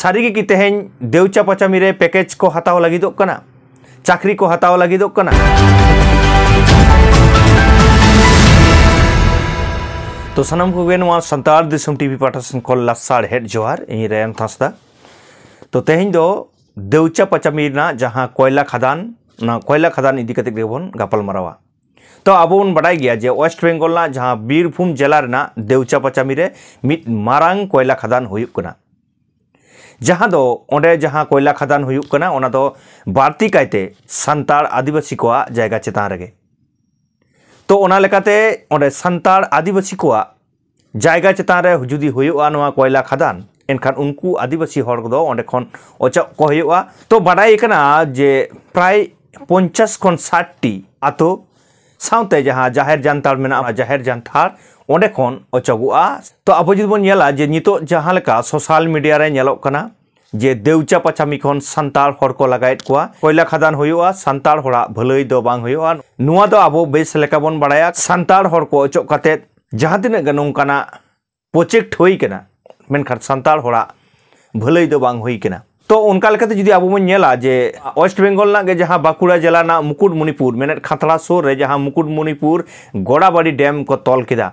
ᱥᱟᱹᱨᱤᱜᱮ ᱠᱤ ᱛᱮᱦᱮᱧ ᱫᱮᱣᱪᱟ ᱯᱟᱪᱟᱢᱤ ᱨᱮ ᱯᱮᱠᱮᱡᱽ ᱠᱚ ᱦᱟᱛᱟᱣ ᱞᱟᱹᱜᱤᱫᱚᱜ ᱠᱟᱱᱟ ᱪᱟᱹᱠᱨᱤ ᱠᱚ ᱦᱟᱛᱟᱣ ᱞᱟᱹᱜᱤᱫᱚᱜ ᱠᱟᱱᱟ ᱛᱚ ᱥᱟᱱᱟᱢ ᱠᱚᱜᱮ ᱱᱚᱣᱟ ᱥᱟᱱᱛᱟᱲ ᱫᱤᱥᱚᱢ ᱴᱤᱵᱷᱤ ᱯᱟᱦᱴᱟ ᱥᱮᱱ ᱠᱷᱚᱱ ᱞᱟᱥᱟᱲ ᱦᱮᱰ ᱡᱚᱦᱟᱨ ᱤᱧ ᱨᱮᱭᱟᱱ ᱦᱟᱸᱥᱫᱟ ᱛᱚ ᱛᱮᱦᱮᱧ ᱫᱚ ᱫᱮᱣᱪᱟ ᱯᱟᱪᱟᱢᱤ ᱨᱮᱱᱟᱜ ᱡᱟᱦᱟᱸ ᱠᱚᱭᱞᱟ ᱠᱷᱟᱫᱟᱱ ᱚᱱᱟ ᱠᱚᱭᱞᱟ ᱠᱷᱟᱫᱟᱱ ᱤᱫᱤ ᱠᱟᱛᱮ ᱜᱮᱵᱚᱱ ᱜᱟᱯᱟᱞ ᱢᱟᱨᱟᱣᱟ ᱛᱚ ᱟᱵᱚ ᱵᱚᱱ ᱵᱟᱰᱟᱭ ᱜᱮᱭᱟ ᱡᱮ ᱳᱭᱮᱥᱴ ᱵᱮᱝᱜᱚᱞ ᱨᱮᱱᱟᱜ ᱡᱟᱦᱟᱸ ᱵᱤᱨᱵᱷᱩᱢ ᱡᱮᱞᱟ ᱨᱮᱱᱟᱜ ᱫᱮᱣᱪᱟ ᱯᱟᱪᱟᱢᱤ ᱨᱮ ᱢᱤᱫ ᱢᱟᱨᱟᱝ ᱠᱚᱭᱞᱟ ᱠᱷᱟᱫᱟᱱ ᱦᱩᱭᱩᱜ ᱠᱟᱱᱟ ᱡᱟᱦᱟᱸ ᱫᱚ ᱚᱸᱰᱮ ᱡᱟᱦᱟᱸ ᱠᱚᱭᱞᱟ ᱠᱷᱟᱫᱟᱱ ᱦᱩᱭᱩᱜ ᱠᱟᱱᱟ ᱚᱱᱟ ᱫᱚ ᱵᱟᱹᱲᱛᱤ ᱠᱟᱭᱛᱮ ᱥᱟᱱᱛᱟᱲ ᱟᱹᱫᱤᱵᱟᱹᱥᱤ ᱠᱚᱣᱟᱜ ᱡᱟᱭᱜᱟ ᱪᱮᱛᱟᱱ ᱨᱮᱜᱮ ᱛᱚ ᱚᱱᱟ ᱞᱮᱠᱟᱛᱮ ᱚᱸᱰᱮ ᱥᱟᱱᱛᱟᱲ ᱟᱹᱫᱤᱵᱟᱹᱥᱤ ᱠᱚᱣᱟᱜ ᱡᱟᱭᱜᱟ ᱪᱮᱛᱟᱱ ᱨᱮ ᱡᱩᱫᱤ ᱦᱩᱭᱩᱜᱼᱟ ᱱᱚᱣᱟ ᱠᱚᱭᱞᱟ ᱠᱷᱟᱫᱟᱱ ᱮᱱᱠᱷᱟᱱ ᱩᱱᱠᱩ ᱟᱹᱫᱤᱵᱟᱹᱥᱤ ᱦᱚᱲ ᱠᱚᱫᱚ ᱚᱸᱰᱮ ᱠᱷᱚᱱ ᱚᱪᱚᱜ ᱠᱚ ᱦᱩᱭᱩᱜᱼᱟ ᱛᱚ ᱵᱟᱰᱟᱭ ᱠᱟᱱᱟ ᱡᱮ ᱯᱨᱟᱭ ᱯᱚᱧᱪᱟᱥ ᱠᱷᱚᱱ ᱥᱟᱴᱴᱤ ᱟᱛᱳ ᱥᱟᱶᱛᱮ ᱡᱟᱦᱟᱸ ᱡᱟᱦᱮᱨ ᱡᱟᱱᱛᱷᱟᱲ ᱢᱮᱱᱟᱜᱼᱟ ᱡᱟᱦᱮᱨ ᱡᱟᱱᱛᱷᱟᱲ ᱚᱸᱰᱮ ᱠᱷᱚᱱ ᱚᱪᱚᱜᱚᱜᱼᱟ ᱛᱚ ᱟᱵᱚ ᱡᱩᱫᱤ ᱵᱚᱱ ᱧᱮᱞᱟ ᱡᱮ ᱱᱤᱛᱚᱜ ᱡᱟᱦᱟᱸ ᱞᱮᱠᱟ ᱥᱳᱥᱟᱞ ᱢᱤᱰᱤᱭᱟ ᱨᱮ ᱧᱮᱞᱚᱜ ᱠᱟᱱᱟ ᱡᱮ ᱫᱮᱣᱪᱟ ᱯᱟᱪᱟᱢᱤ ᱠᱷᱚᱱ ᱥᱟᱱᱛᱟᱲ ᱦᱚᱲ ᱠᱚ ᱞᱟᱜᱟᱭᱮᱫ ᱠᱚᱣᱟ ᱠᱚᱭᱞᱟ ᱠᱷᱟᱫᱟᱱ ᱦᱩᱭᱩᱜᱼᱟ ᱥᱟᱱᱛᱟᱲ ᱦᱚᱲᱟᱜ ᱵᱷᱟᱹᱞᱟᱹᱭ ᱫᱚ ᱵᱟᱝ ᱦᱩᱭᱩᱜᱼᱟ ᱱᱚᱣᱟ ᱫᱚ ᱟᱵᱚ ᱵᱮᱥ ᱞᱮᱠᱟ ᱵᱚᱱ ᱵᱟᱲᱟᱭᱟ ᱥᱟᱱᱛᱟᱲ ᱦᱚᱲ ᱠᱚ ᱚᱪᱚᱜ ᱠᱟᱛᱮ ᱡᱟᱦᱟᱸ ᱛᱤᱱᱟᱹᱜ ᱜᱮ ᱱᱚᱝᱠᱟᱱᱟᱜ ᱯᱨᱚᱡᱮᱠᱴ ᱦᱩᱭ ᱠᱟᱱᱟ ᱢᱮᱱᱠᱷᱟᱱ ᱥᱟᱱᱛᱟᱲ ᱦᱚᱲᱟᱜ ᱵᱷᱟᱹᱞᱟᱹᱭ ᱫᱚ ᱵᱟᱝ ᱦᱩᱭ ᱠᱟᱱᱟ ᱛᱚ ᱚᱱᱠᱟ ᱞᱮᱠᱟᱛᱮ ᱡᱩᱫᱤ ᱟᱵᱚ ᱵᱚᱱ ᱧᱮᱞᱟ ᱡᱮ ᱳᱭᱮᱥᱴ ᱵᱮᱝᱜᱚᱞ ᱨᱮᱱᱟᱜ ᱜᱮ ᱡᱟᱦᱟᱸ ᱵᱟᱸᱠᱩᱲᱟ ᱡᱮᱞᱟ ᱨᱮᱱᱟᱜ ᱢᱩᱠᱩᱴᱢᱩᱱᱤᱯᱩᱨ ᱢᱮᱱᱮᱫ ᱠᱷᱟᱛᱲᱟ ᱥᱩᱨ ᱨᱮ ᱡᱟᱦᱟᱸ ᱢᱩᱠᱩᱴᱢᱩᱱᱤᱯᱩᱨ ᱜᱚᱲᱟᱵᱟᱲᱤ ᱰᱮᱢ ᱠᱚ ᱛᱚᱞ ᱠᱮᱫᱟ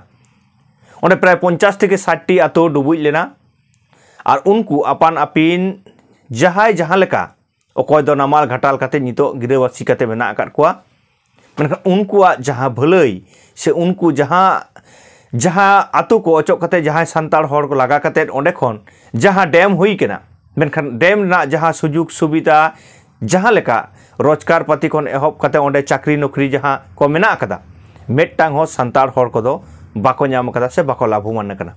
ᱚᱸᱰᱮ ᱯᱨᱟᱭ ᱯᱚᱧᱪᱟᱥ ᱛᱷᱮᱠᱮ ᱥᱟᱴᱴᱤ ᱟᱛᱳ ᱰᱩᱵᱩᱡ ᱞᱮᱱᱟ ᱟᱨ ᱩᱱᱠᱩ ᱟᱯᱟᱱ ᱟᱹᱯᱤᱱ ᱡᱟᱦᱟᱸᱭ ᱡᱟᱦᱟᱸ ᱞᱮᱠᱟ ᱚᱠᱚᱭ ᱫᱚ ᱱᱟᱢᱟᱞ ᱜᱷᱟᱴᱟᱞ ᱠᱟᱛᱮ ᱱᱤᱛᱚᱜ ᱜᱤᱨᱟᱹᱵᱟᱹᱥᱤ ᱠᱟᱛᱮ ᱢᱮᱱᱟᱜ ᱟᱠᱟᱫ ᱠᱚᱣᱟ ᱢᱮᱱᱠᱷᱟᱱ ᱩᱱᱠᱩᱣᱟᱜ ᱡᱟᱦᱟᱸ ᱵᱷᱟᱹᱞᱟᱹᱭ ᱥᱮ ᱩᱱᱠᱩ ᱡᱟᱦᱟᱸ ᱡᱟᱦᱟᱸ ᱟᱛᱳ ᱠᱚ ᱚᱪᱚᱜ ᱠᱟᱛᱮ ᱡᱟᱦᱟᱸᱭ ᱥᱟᱱᱛᱟᱲ ᱦᱚᱲ ᱠᱚ ᱞᱟᱜᱟ ᱠᱟᱛᱮ ᱚᱸᱰᱮ ᱠᱷᱚᱱ ᱡᱟᱦᱟᱸ ᱰᱮᱢ ᱦᱩᱭ ᱠᱟᱱᱟ ᱢᱮᱱᱠᱷᱟᱱ ᱰᱮᱢ ᱨᱮᱱᱟᱜ ᱡᱟᱦᱟᱸ ᱥᱩᱡᱳᱜᱽ ᱥᱩᱵᱤᱫᱟ ᱡᱟᱦᱟᱸ ᱞᱮᱠᱟ ᱨᱳᱡᱽᱜᱟᱨ ᱯᱟᱹᱛᱤ ᱠᱷᱚᱱ ᱮᱦᱚᱵ ᱠᱟᱛᱮ ᱚᱸᱰᱮ ᱪᱟᱹᱠᱨᱤ ᱱᱚᱠᱨᱤ ᱡᱟᱦᱟᱸ ᱠᱚ ᱢᱮᱱᱟᱜ ᱟᱠᱟᱫᱟ ᱢᱤᱫᱴᱟᱝ ᱦᱚᱸ ᱥᱟᱱᱛᱟᱲ ᱦᱚᱲ ᱠᱚᱫᱚ ᱵᱟᱠᱚ ᱧᱟᱢ ᱟᱠᱟᱫᱟ ᱥᱮ ᱵᱟᱠᱚ ᱞᱟᱵᱷᱚᱢᱟᱱ ᱟᱠᱟᱱᱟ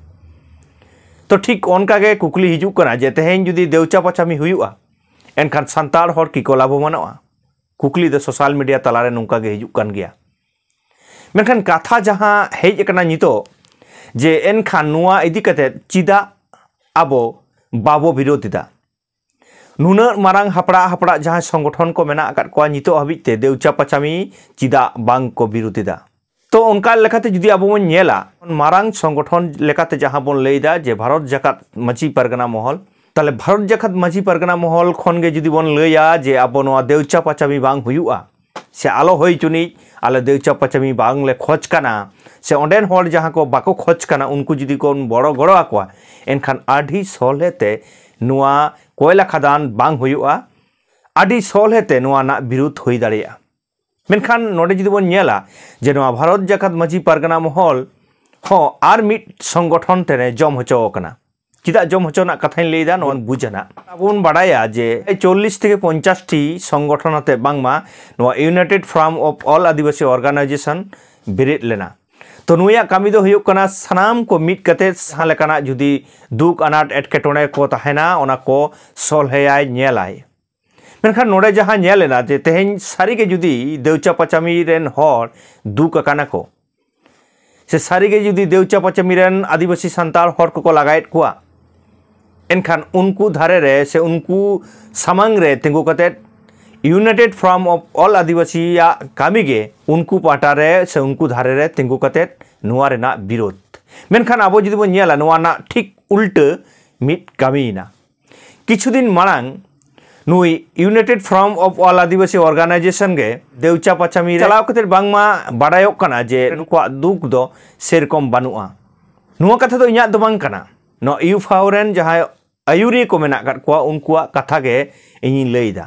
ᱛᱚ ᱴᱷᱤᱠ ᱚᱱᱠᱟ ᱜᱮ ᱠᱩᱠᱞᱤ ᱦᱤᱡᱩᱜ ᱠᱟᱱᱟ ᱡᱮ ᱛᱮᱦᱮᱧ ᱡᱩᱫᱤ ᱫᱮᱣᱪᱟ ᱯᱟᱪᱟᱢᱤ ᱦᱩᱭᱩᱜᱼᱟ ᱮᱱᱠᱷᱟᱱ ᱥᱟᱱᱛᱟᱲ ᱦᱚᱲ ᱠᱤᱠᱚ ᱞᱟᱵᱷᱚᱢᱟᱱᱚᱜᱼᱟ ᱠᱩᱠᱞᱤ ᱫᱚ ᱥᱳᱥᱟᱞ ᱢᱤᱰᱤᱭᱟ ᱛᱟᱞᱟᱨᱮ ᱱᱚᱝᱠᱟ ᱜᱮ ᱦᱤᱡᱩᱜ ᱠᱟᱱ ᱜᱮᱭᱟ ᱢᱮᱱᱠᱷᱟᱱ ᱠᱟᱛᱷᱟ ᱡᱟᱦᱟᱸ ᱦᱮᱡ ᱟᱠᱟᱱᱟ ᱱᱤᱛᱚᱜ ᱡᱮ ᱮᱱᱠᱷᱟᱱ ᱱᱚᱣᱟ ᱤᱫᱤ ᱠᱟᱛᱮ ᱪᱮᱫᱟᱜ ᱟᱵᱚ ᱵᱟᱵᱚ ᱵᱤᱨᱳᱫᱷ ᱮᱫᱟ ᱱᱩᱱᱟᱹᱜ ᱢᱟᱨᱟᱝ ᱦᱟᱯᱲᱟᱜ ᱦᱟᱯᱲᱟᱜ ᱡᱟᱦᱟᱸᱭ ᱥᱚᱝᱜᱚᱴᱷᱚᱱ ᱠᱚ ᱢᱮᱱᱟᱜ ᱟᱠᱟᱫ ᱠᱚᱣᱟ ᱱᱤᱛᱚᱜ ᱦᱟᱹᱵᱤᱡ ᱛᱮ ᱫᱮᱣᱪᱟ ᱯᱟᱪᱟᱢᱤ ᱪᱮᱫᱟᱜ ᱵᱟᱝ ᱠᱚ ᱵᱤᱨᱩᱫᱷ ᱮᱫᱟ ᱛᱚ ᱚᱱᱠᱟ ᱞᱮᱠᱟᱛᱮ ᱡᱩᱫᱤ ᱟᱵᱚ ᱵᱚᱱ ᱧᱮᱞᱟ ᱢᱟᱨᱟᱝ ᱥᱚᱝᱜᱚᱴᱷᱚᱱ ᱞᱮᱠᱟᱛᱮ ᱡᱟᱦᱟᱸ ᱵᱚᱱ ᱞᱟᱹᱭᱫᱟ ᱡᱮ ᱵᱷᱟᱨᱚᱛ ᱡᱟᱠᱟᱛ ᱢᱟᱹᱡᱷᱤ ᱯᱟᱨᱜᱟᱱᱟ ᱢᱚᱦᱚᱞ ᱛᱟᱦᱞᱮ ᱵᱷᱟᱨᱚᱛ ᱡᱟᱠᱟᱛ ᱢᱟᱹᱡᱷᱤ ᱯᱟᱨᱜᱟᱱᱟ ᱢᱚᱦᱚᱞ ᱠᱷᱚᱱ ᱜᱮ ᱡᱩᱫᱤ ᱵᱚᱱ ᱞᱟᱹᱭᱟ ᱡᱮ ᱟᱵᱚ ᱱᱚᱣᱟ ᱫᱮᱣᱪᱟ ᱯᱟᱪᱟᱢᱤ ᱵᱟᱝ ᱦᱩᱭᱩᱜᱼᱟ ᱥᱮ ᱟᱞᱚ ᱦᱩᱭ ᱪᱩᱱᱤᱡ ᱟᱞᱮ ᱫᱚ ᱪᱟᱯᱟᱪᱟᱢᱤ ᱵᱟᱝᱞᱮ ᱠᱷᱚᱡᱽ ᱠᱟᱱᱟ ᱥᱮ ᱚᱸᱰᱮᱱ ᱦᱚᱲ ᱡᱟᱦᱟᱸ ᱠᱚ ᱵᱟᱠᱚ ᱠᱷᱚᱡᱽ ᱠᱟᱱᱟ ᱩᱱᱠᱩ ᱡᱩᱫᱤ ᱠᱚ ᱵᱚᱲᱚ ᱜᱚᱲᱚ ᱟᱠᱚᱣᱟ ᱮᱱᱠᱷᱟᱱ ᱟᱹᱰᱤ ᱥᱚᱞᱦᱮ ᱛᱮ ᱱᱚᱣᱟ ᱠᱚᱭᱞᱟ ᱠᱷᱟᱫᱟᱱ ᱵᱟᱝ ᱦᱩᱭᱩᱜᱼᱟ ᱟᱹᱰᱤ ᱥᱚᱞᱦᱮ ᱛᱮ ᱱᱚᱣᱟ ᱨᱮᱱᱟᱜ ᱵᱤᱨᱩᱫᱷ ᱦᱩᱭ ᱫᱟᱲᱮᱭᱟᱜᱼᱟ ᱢᱮᱱᱠᱷᱟᱱ ᱱᱚᱰᱮ ᱡᱩᱫᱤ ᱵᱚᱱ ᱧᱮᱞᱟ ᱡᱮ ᱱᱚᱣᱟ ᱵᱷᱟᱨᱚᱛ ᱡᱟᱠᱟᱛ ᱢᱟᱹᱡᱷᱤ ᱯᱟᱨᱜᱟᱱᱟ ᱢᱚᱦᱚᱞ ᱦᱚᱸ ᱟᱨ ᱢᱤᱫ ᱥᱚᱝᱜᱚᱴᱷᱚᱱ ᱛᱮᱱᱮ ᱡᱚᱢ ᱦᱚᱪᱚ ᱟᱠᱟᱱᱟ ᱪᱮᱫᱟᱜ ᱡᱚᱢ ᱦᱚᱪᱚ ᱨᱮᱱᱟᱜ ᱠᱟᱛᱷᱟᱧ ᱞᱟᱹᱭᱫᱟ ᱱᱚᱣᱟ ᱵᱩᱡᱟ ᱱᱟᱜ ᱟᱵᱚ ᱵᱚᱱ ᱵᱟᱰᱟᱭᱟ ᱡᱮ ᱪᱚᱞᱞᱤᱥ ᱛᱷᱮᱠᱮ ᱯᱚᱧᱪᱟᱥ ᱴᱤ ᱥᱚᱝᱜᱚᱴᱷᱚᱱ ᱟᱛᱮ ᱵᱟᱝᱢᱟ ᱱᱚᱣᱟ united front of all Adivasi organisation ᱵᱮᱨᱮᱫ ᱞᱮᱱᱟ ᱛᱚ ᱱᱩᱭᱟᱜ ᱠᱟᱹᱢᱤ ᱫᱚ ᱦᱩᱭᱩᱜ ᱠᱟᱱᱟ ᱥᱟᱱᱟᱢ ᱠᱚ ᱢᱤᱫ ᱠᱟᱛᱮ ᱡᱟᱦᱟᱸ ᱞᱮᱠᱟᱱᱟᱜ ᱡᱩᱫᱤ ᱫᱩᱠ ᱟᱱᱟᱴ ᱮᱴᱠᱮᱴᱚᱬᱮ ᱠᱚ ᱛᱟᱦᱮᱱᱟ ᱚᱱᱟ ᱠᱚ ᱥᱚᱞᱦᱮᱭᱟᱭ ᱧᱮᱞᱟᱭ ᱢᱮᱱᱠᱷᱟᱱ ᱱᱚᱰᱮ ᱡᱟᱦᱟᱸ ᱧᱮᱞ ᱮᱱᱟ ᱡᱮ ᱛᱮᱦᱮᱧ ᱥᱟᱹᱨᱤᱜᱮ ᱡᱩᱫᱤ ᱫᱮᱣᱪᱟ ᱯᱟᱪᱟᱢᱤ ᱨᱮᱱ ᱦᱚᱲ ᱫᱩᱠ ᱟᱠᱟᱱᱟ ᱠᱚ ᱥᱮ ᱥᱟᱹᱨᱤᱜᱮ ᱡᱩᱫᱤ ᱫᱮᱣᱪᱟ ᱯᱟᱪᱟᱢᱤ ᱨᱮᱱ ᱟᱹᱫᱤᱵᱟᱹᱥᱤ ᱥᱟᱱᱛᱟᱲ ᱦᱚᱲ ᱠᱚᱠᱚ ᱞᱟᱜᱟᱭᱮᱫ ᱠᱚᱣᱟ ᱮᱱᱠᱷᱟᱱ ᱩᱱᱠᱩ ᱫᱷᱟᱨᱮ ᱨᱮ ᱥᱮ ᱩᱱᱠᱩ ᱥᱟᱢᱟᱝ ᱨᱮ ᱛᱤᱸᱜᱩ ᱠᱟᱛᱮᱫ ᱤᱭᱩᱱᱟᱭᱴᱮᱰ ᱯᱷᱨᱚᱢ ᱚᱯᱷ ᱚᱞ ᱟᱹᱫᱤᱵᱟᱹᱥᱤᱭᱟᱜ ᱠᱟᱹᱢᱤ ᱜᱮ ᱩᱱᱠᱩ ᱯᱟᱦᱴᱟ ᱨᱮ ᱥᱮ ᱩᱱᱠᱩ ᱫᱷᱟᱨᱮ ᱨᱮ ᱛᱤᱸᱜᱩ ᱠᱟᱛᱮᱫ ᱱᱚᱣᱟ ᱨᱮᱱᱟᱜ ᱵᱤᱨᱳᱫᱷ ᱢᱮᱱᱠᱷᱟᱱ ᱟᱵᱚ ᱡᱩᱫᱤ ᱵᱚᱱ ᱧᱮᱞᱟ ᱱᱚᱣᱟ ᱨᱮᱱᱟᱜ ᱴᱷᱤᱠ ᱩᱞᱴᱟᱹ ᱢᱤᱫ ᱠᱟᱹᱢᱤᱭᱮᱱᱟ ᱠᱤᱪᱷᱩ ᱫᱤᱱ ᱢᱟᱲᱟᱝ ᱱᱩᱭ united front of all Adivasi organisation ᱜᱮ ᱫᱮᱣᱪᱟ ᱯᱟᱪᱟᱢᱤ ᱨᱮ ᱪᱟᱞᱟᱣ ᱠᱟᱛᱮ ᱵᱟᱝᱢᱟ ᱵᱟᱰᱟᱭᱚᱜ ᱠᱟᱱᱟ ᱡᱮ ᱱᱩᱠᱩᱣᱟᱜ ᱫᱩᱠ ᱫᱚ ᱥᱮᱨᱚᱠᱚᱢ ᱵᱟᱹᱱᱩᱜᱼᱟ ᱱᱚᱣᱟ ᱠᱟᱛᱷᱟ ᱫᱚ ᱤᱧᱟᱹᱜ ᱫᱚ ᱵᱟᱝ ᱠᱟᱱᱟ ᱱᱚᱣᱟ ᱤᱭᱩᱯᱷᱟᱣ ᱨᱮᱱ ᱡᱟᱦᱟᱸᱭ ᱟᱹᱭᱩᱨᱤᱭᱟᱹ ᱠᱚ ᱢᱮᱱᱟᱜ ᱟᱠᱟᱫ ᱠᱚᱣᱟ ᱩᱱᱠᱩᱣᱟᱜ ᱠᱟᱛᱷᱟ ᱜᱮ ᱤᱧᱤᱧ ᱞᱟᱹᱭ ᱮᱫᱟ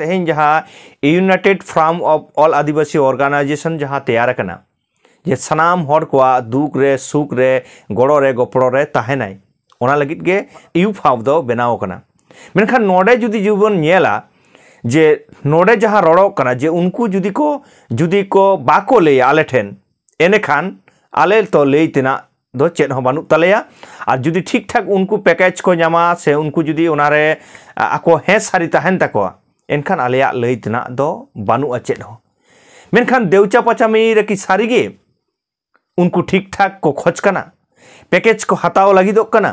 ᱛᱮᱦᱮᱧ ᱡᱟᱦᱟᱸ united front of all Adivasi organisation ᱡᱟᱦᱟᱸ ᱛᱮᱭᱟᱨ ᱟᱠᱟᱱᱟ ᱡᱮ ᱥᱟᱱᱟᱢ ᱦᱚᱲ ᱠᱚᱣᱟᱜ ᱫᱩᱠ ᱨᱮ ᱥᱩᱠ ᱨᱮ ᱜᱚᱲᱚ ᱨᱮ ᱜᱚᱯᱚᱲᱚ ᱨᱮ ᱛᱟᱦᱮᱱᱟᱭ ᱚᱱᱟ ᱞᱟᱹᱜᱤᱫ ᱜᱮ ᱤᱭᱩ ᱯᱷᱟᱣ ᱫᱚ ᱵᱮᱱᱟᱣ ᱟᱠᱟᱱᱟ ᱢᱮᱱᱠᱷᱟᱱ ᱱᱚᱰᱮ ᱡᱩᱫᱤ ᱡᱩᱵᱚᱱ ᱧᱮᱞᱟ ᱡᱮ ᱱᱚᱰᱮ ᱡᱟᱦᱟᱸ ᱨᱚᱲᱚᱜ ᱠᱟᱱᱟ ᱡᱮ ᱩᱱᱠᱩ ᱡᱩᱫᱤ ᱠᱚ ᱡᱩᱫᱤ ᱠᱚ ᱵᱟᱠᱚ ᱞᱟᱹᱭᱟ ᱟᱞᱮ ᱴᱷᱮᱱ ᱮᱱᱮᱠᱷᱟᱱ ᱟᱞᱮ ᱛᱚ ᱞᱟᱹᱭ ᱛᱮᱱᱟᱜ ᱫᱚ ᱪᱮᱫ ᱦᱚᱸ ᱵᱟᱹᱱᱩᱜ ᱛᱟᱞᱮᱭᱟ ᱟᱨ ᱡᱩᱫᱤ ᱴᱷᱤᱠ ᱴᱷᱟᱠ ᱩᱱᱠᱩ ᱯᱮᱠᱮᱡᱽ ᱠᱚ ᱧᱟᱢᱟ ᱥᱮ ᱩᱱᱠᱩ ᱡᱩᱫᱤ ᱚᱱᱟᱨᱮ ᱟᱠᱚ ᱦᱮᱸ ᱥᱟᱹᱨᱤ ᱛᱟᱦᱮᱱ ᱛᱟᱠᱚᱣᱟ ᱮᱱᱠᱷᱟᱱ ᱟᱞᱮᱭᱟᱜ ᱞᱟᱹᱭ ᱛᱮᱱᱟᱜ ᱫᱚ ᱵᱟᱹᱱᱩᱜᱼᱟ ᱪᱮᱫ ᱦᱚᱸ ᱢᱮᱱᱠᱷᱟᱱ ᱫᱮᱣᱪᱟ ᱯᱟᱪᱟᱢᱤ ᱨᱮᱠᱤ ᱥᱟᱹᱨᱤᱜᱮ ᱩᱱᱠᱩ ᱴᱷᱤᱠ ᱴᱷᱟᱠ ᱠᱚ ᱠᱷᱚᱡᱽ ᱠᱟᱱᱟ ᱯᱮᱠᱮᱡᱽ ᱠᱚ ᱦᱟᱛᱟᱣ ᱞᱟᱹᱜᱤᱫᱚᱜ ᱠᱟᱱᱟ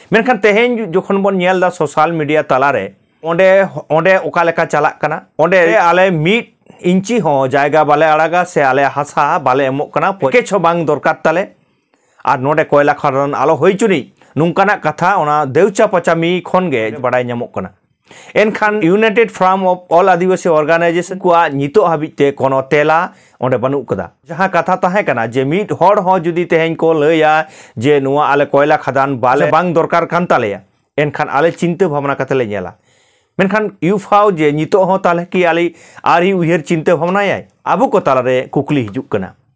ᱢᱮᱱᱠᱷᱟᱱ ᱛᱮᱦᱮᱧ ᱡᱚᱠᱷᱚᱱ ᱵᱚᱱ ᱧᱮᱞ ᱮᱫᱟ ᱥᱳᱥᱟᱞ ᱢᱤᱰᱤᱭᱟ ᱛᱟᱞᱟᱨᱮ ᱚᱸᱰᱮ ᱚᱸᱰᱮ ᱚᱠᱟ ᱞᱮᱠᱟ ᱪᱟᱞᱟᱜ ᱠᱟᱱᱟ ᱚᱸᱰᱮ ᱟᱞᱮ ᱢᱤᱫ ᱤᱧᱪᱤ ᱦᱚᱸ ᱡᱟᱭᱜᱟ ᱵᱟᱞᱮ ᱟᱲᱟᱜᱟ ᱥᱮ ᱟᱞᱮ ᱦᱟᱥᱟ ᱵᱟᱞᱮ ᱮᱢᱚᱜ ᱠᱟᱱᱟ ᱯᱮᱠᱮᱡᱽ ᱦᱚᱸ ᱵᱟᱝ ᱫᱚᱨᱠᱟᱨ ᱛᱟᱞᱮ ᱟᱨ ᱱᱚᱸᱰᱮ ᱠᱚᱭᱞᱟ ᱠᱷᱟᱫᱟᱱ ᱟᱞᱚ ᱦᱩᱭ ᱪᱩᱱᱤᱡ ᱱᱚᱝᱠᱟᱱᱟᱜ ᱠᱟᱛᱷᱟ ᱚᱱᱟ ᱫᱮᱣᱪᱟ ᱯᱟᱪᱟᱢᱤ ᱠᱷᱚᱱ ᱜᱮ ᱵᱟᱰᱟᱭ ᱧᱟᱢᱚᱜ ᱠᱟᱱᱟ ᱮᱱᱠᱷᱟᱱ united front of all Adivasi organisation ᱠᱚᱣᱟᱜ ᱱᱤᱛᱚᱜ ᱦᱟᱹᱵᱤᱡ ᱛᱮ ᱠᱳᱱᱳ ᱛᱮᱞᱟ ᱚᱸᱰᱮ ᱵᱟᱹᱱᱩᱜ ᱠᱟᱫᱟ ᱡᱟᱦᱟᱸ ᱠᱟᱛᱷᱟ ᱛᱟᱦᱮᱸ ᱠᱟᱱᱟ ᱡᱮ ᱢᱤᱫ ᱦᱚᱲ ᱦᱚᱸ ᱡᱩᱫᱤ ᱛᱮᱦᱮᱧ ᱠᱚ ᱞᱟᱹᱭᱟ ᱡᱮ ᱱᱚᱣᱟ ᱟᱞᱮ ᱠᱚᱭᱞᱟ ᱠᱷᱟᱫᱟᱱ ᱵᱟᱞᱮ ᱵᱟᱝ ᱫᱚᱨᱠᱟᱨ ᱠᱟᱱ ᱛᱟᱞᱮᱭᱟ ᱮᱱᱠᱷᱟᱱ ᱟᱞᱮ ᱪᱤᱱᱛᱟᱹ ᱵᱷᱟᱵᱽᱱᱟ ᱠᱟᱛᱮ ᱞᱮ ᱧᱮᱞᱟ ᱢᱮᱱᱠᱷᱟᱱ ᱭᱩᱯᱷᱟᱣ ᱡᱮ ᱱᱤᱛᱚᱜ ᱦᱚᱸ ᱛᱟᱦᱞᱮ ᱠᱤ ᱟᱞᱮ ᱟᱹᱣᱨᱤ ᱩᱭᱦᱟᱹᱨ ᱪᱤᱱᱛᱟᱹ ᱵᱷᱟᱵᱽᱱᱟᱭᱟᱭ ᱟᱵᱚ ᱠᱚ ᱛᱟᱞᱟᱨᱮ ᱠᱩᱠᱞᱤ ᱦᱤᱡᱩᱜ ᱠᱟᱱᱟ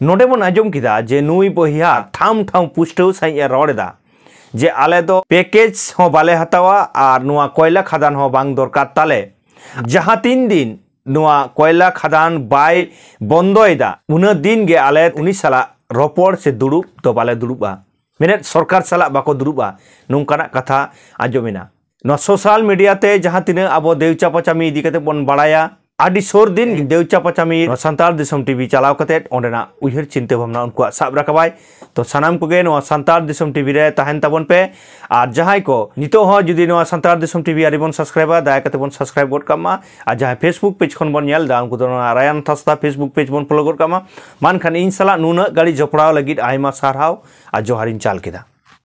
ᱱᱚᱰᱮ ᱵᱚᱱ ᱟᱸᱡᱚᱢ ᱠᱮᱫᱟ ᱡᱮ ᱱᱩᱭ ᱵᱚᱭᱦᱟ ᱴᱷᱟᱢ ᱴᱷᱟᱢ ᱯᱩᱥᱴᱟᱹᱣ ᱥᱟᱺᱦᱤᱡ ᱮ ᱨᱚᱲ ᱮᱫᱟ ᱡᱮ ᱟᱞᱮ ᱫᱚ ᱯᱮᱠᱮᱡᱽ ᱦᱚᱸ ᱵᱟᱞᱮ ᱦᱟᱛᱟᱣᱟ ᱟᱨ ᱱᱚᱣᱟ ᱠᱚᱭᱞᱟ ᱠᱷᱟᱫᱟᱱ ᱦᱚᱸ ᱵᱟᱝ ᱫᱚᱨᱠᱟᱨ ᱛᱟᱞᱮ ᱡᱟᱦᱟᱸ ᱛᱤᱱ ᱫᱤᱱ ᱱᱚᱣᱟ ᱠᱚᱭᱞᱟ ᱠᱷᱟᱫᱟᱱ ᱵᱟᱭ ᱵᱚᱱᱫᱚᱭᱮᱫᱟ ᱩᱱᱟᱹᱜ ᱫᱤᱱ ᱜᱮ ᱟᱞᱮ ᱩᱱᱤ ᱥᱟᱞᱟᱜ ᱨᱚᱯᱚᱲ ᱥᱮ ᱫᱩᱲᱩᱵ ᱫᱚ ᱵᱟᱞᱮ ᱫᱩᱲᱩᱵᱼᱟ ᱢᱮᱱᱮᱫ ᱥᱚᱨᱠᱟᱨ ᱥᱟᱞᱟᱜ ᱵᱟᱠᱚ ᱫᱩᱲᱩᱵᱼᱟ ᱱᱚᱝᱠᱟᱱᱟᱜ ᱠᱟᱛᱷᱟ ᱟᱸᱡᱚᱢᱮᱱᱟ ᱱᱚᱣᱟ ᱥᱳᱥᱟᱞ ᱢᱤᱰᱤᱭᱟ ᱛᱮ ᱡᱟᱦᱟᱸ ᱛᱤᱱᱟᱹᱜ ᱟᱵᱚ ᱫᱮᱣᱪᱟ ᱯᱟᱪᱟᱢᱤ ᱤᱫᱤ ᱠᱟᱛᱮ ᱵᱚᱱ ᱵᱟᱲᱟᱭᱟ ᱟᱹᱰᱤ ᱥᱩᱨ ᱫᱤᱱ ᱫᱮᱣᱪᱟ ᱯᱟᱪᱟᱢᱤ ᱥᱟᱱᱛᱟᱲ ᱫᱤᱥᱚᱢ ᱴᱤᱵᱷᱤ ᱪᱟᱞᱟᱣ ᱠᱟᱛᱮ ᱚᱸᱰᱮᱱᱟᱜ ᱩᱭᱦᱟᱹᱨ ᱪᱤᱱᱛᱟᱹ ᱵᱷᱟᱵᱽᱱᱟ ᱩᱱᱠᱩᱣᱟᱜ ᱥᱟᱵ ᱨᱟᱠᱟᱵᱟᱭ ᱛᱚ ᱥᱟᱱᱟᱢ ᱠᱚᱜᱮ ᱱᱚᱣᱟ ᱥᱟᱱᱛᱟᱲ ᱫᱤᱥᱚᱢ ᱴᱤᱵᱷᱤ ᱨᱮ ᱛᱟᱦᱮᱱ ᱛᱟᱵᱚᱱ ᱯᱮ ᱟᱨ ᱡᱟᱦᱟᱸᱭ ᱠᱚ ᱱᱤᱛᱚᱜ ᱦᱚᱸ ᱡᱩᱫᱤ ᱱᱚᱣᱟ ᱥᱟᱱᱛᱟᱲ ᱫᱤᱥᱚᱢ ᱴᱤᱵᱷᱤ ᱟᱹᱰᱤ ᱵᱚᱱ ᱥᱟᱵᱥᱠᱨᱟᱭᱤᱵᱟ ᱫᱟᱭᱟ ᱠᱟᱛᱮ ᱵᱚᱱ ᱥᱟᱵᱥᱠᱨᱟᱭᱤᱵ ᱜᱚᱫ ᱠᱟᱜ ᱢᱟ ᱟᱨ ᱡᱟᱦᱟᱸᱭ ᱯᱷᱮᱥᱵᱩᱠ ᱯᱮᱡᱽ ᱠᱷᱚᱱ ᱵᱚᱱ ᱧᱮᱞ ᱮᱫᱟ ᱩᱱᱠᱩ ᱫᱚ ᱱᱚᱣᱟ ᱨᱟᱭᱟᱱ ᱛᱷᱟᱥᱛᱟ ᱯᱷᱮᱥᱵᱩᱠ ᱯᱮᱡᱽ ᱵᱚᱱ ᱯᱷᱚᱞᱳ ᱜᱚᱫ ᱠᱟᱜ ᱢᱟ ᱢᱟᱱᱠᱷᱟᱱ ᱤᱧ ᱥᱟᱞᱟᱜ ᱱᱩᱱᱟᱹᱜ ᱜᱟᱹᱲᱤ ᱡᱚᱯᱲᱟᱣ ᱞᱟᱹᱜᱤᱫ ᱟᱭᱢᱟ ᱥᱟᱨᱦᱟᱣ ᱟᱨ ᱡᱚᱦᱟᱨᱤᱧ ᱪᱟᱞ ᱠᱮᱫᱟ